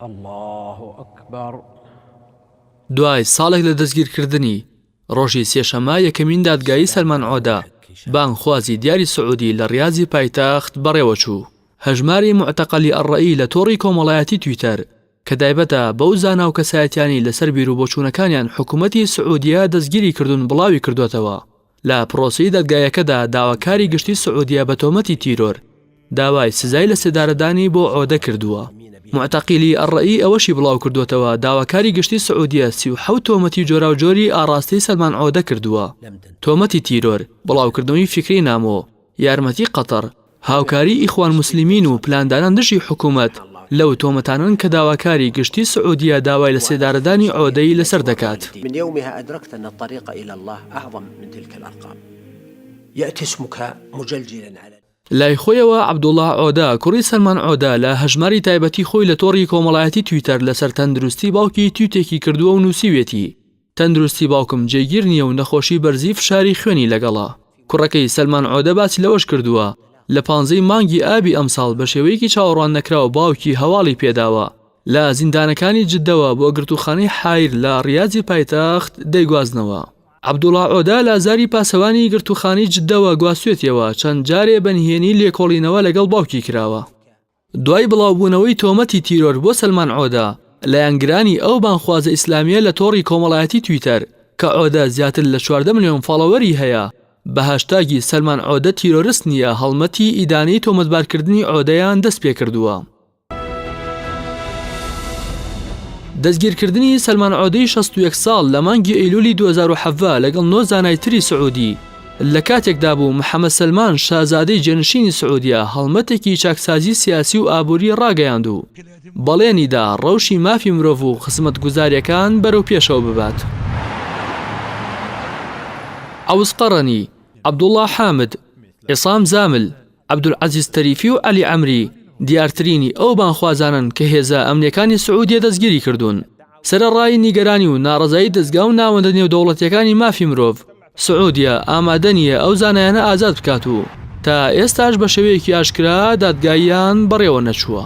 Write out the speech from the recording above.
اللە اکبر. دوای ساڵێک لە دەستگیرکردنی، ڕۆژی سێشەممە یەکەمین دادگایی سەلمان عۆدە، بانگخوازی دیاری سعودی لە ڕیازی پایتەخت بەڕێوەچوو. هەژماری موعتەقەلی ئەلڕەئی لە تۆڕی کۆمەڵایەتی تویتەر کە تایبەتە بەو زانا و کەسایەتیانەی لەسەر بیروبۆچوونەکانیان حکومەتی سعودیە دەستگیری کردوون بڵاویکردووەتەوە، لە پرۆسەی دادگایەکەدا داواکاری گشتی سعودیە بە تۆمەتی تیرۆر داوای سزای لە سێدارەدانی بۆ عۆدە کردووە. موعتەقیلی ئەلڕەئی ئەوەشی بڵاوکردووەتەوە، داواکاری گشتی سعودیە سی و حەوت تۆمەتی جۆراوجۆری ئاڕاستەی سەلمان عۆدە کردووە، تۆمەتی تیرۆر، بڵاوکردنەوەی فیکرەی نامۆ، یارمەتی قەتەڕ، هاوکاری ئیخوان موسلیمین و پلاندانان دژی حکومەت لەو تۆمەتانەن کە داواکاری گشتی سعودیە داوای لە سێدارەدانی عۆدەی لەسەر دەکات. من يومها ادركت ان الطريق الى الله اعظم من تلك الارقام ياتي اسمك مجلجلا على. لای خۆیەوە عەبدوڵا عۆدە، کوڕی سەلمان عۆدە لە هەژماری تایبەتی خۆی لە تۆڕی کۆمەڵایەتی تویتەر لەسەر تەندروستی باوکی تویتێکی کردووە و نووسیویەتی، تەندروستی باوکم جێگیر نییە و نەخۆشی بەرزی فشاری خوێنی لەگەڵە. کوڕەکەی، سەلمان عۆدە باسی لەوەش کردووە، لە پانزەی مانگی ئابی ئەمساڵ بە شێوەیەکی چاوەڕوان نەکراو باوکی هەواڵی پێداوە، لە زیندانەکانی جدەوە بۆ گرتووخانەی حایر لە ڕیازی پایتەخت دەیگوازنەوە. عەبدوڵا عۆدە لازاری پاسەوانی گرتووخانەی جدەوە گواستوێتیەوە، چەند جارێ بە نهێنی لێکۆڵینەوە لەگەڵ باوکی کراوە. دوای بڵاوبوونەوەی تۆمەتی تیرۆر بۆ سەلمان عۆدە، لایەنگرانی ئەو بانگخوازە ئیسلامییە لە تۆڕی کۆمەڵایەتی تویتەر، کە عۆدە زیاتر لە چواردە ملیۆن فاڵۆوەری هەیە، بە هاشتاگی سەلمان عۆدە تیرۆرست نییە هەڵمەتی ئیدانەی تۆمەتبارکردنی عۆدەیان دەستپێکردووە. دەستگیرکردنی سەلمان عۆدەی شەست و یەک ساڵ لە مانگی ئەیلولی دوو هەزار و حەڤدە لەگەڵ نۆ زانای تری سعودی، لە کاتێکدا بوو محەمەد سەلمان شازادەی جێنشینی سعودیە هەڵمەتێکی چاکسازی سیاسی و ئابووری ڕاگەیاند و بەڵێنی دا ڕەوشی مافی مرۆڤ و خزمەتگوزارییەکان بەرەو پێشەوە ببات. عەوز قەڕەنی، عەبدوڵڵا حامد، عیسام زامل، عەبدولعەزیز تەریفی و عەلی عەمری دیارترینی ئەو بانگخوازانەن کە هێزە ئەمنییەکانی سعودیە دەستگیری کردوون. سەرەڕای نیگەرانی و ناڕەزایی دەزگا و ناوەندە نێودەوڵەتییەکانی مافی مرۆڤ، سعودیە ئامادە نییە ئەو زانایانە ئازاد بکات و تا ئێستاش بە شێوەیەکی ئاشکرا دادگاییان بەڕێوە نەچووە.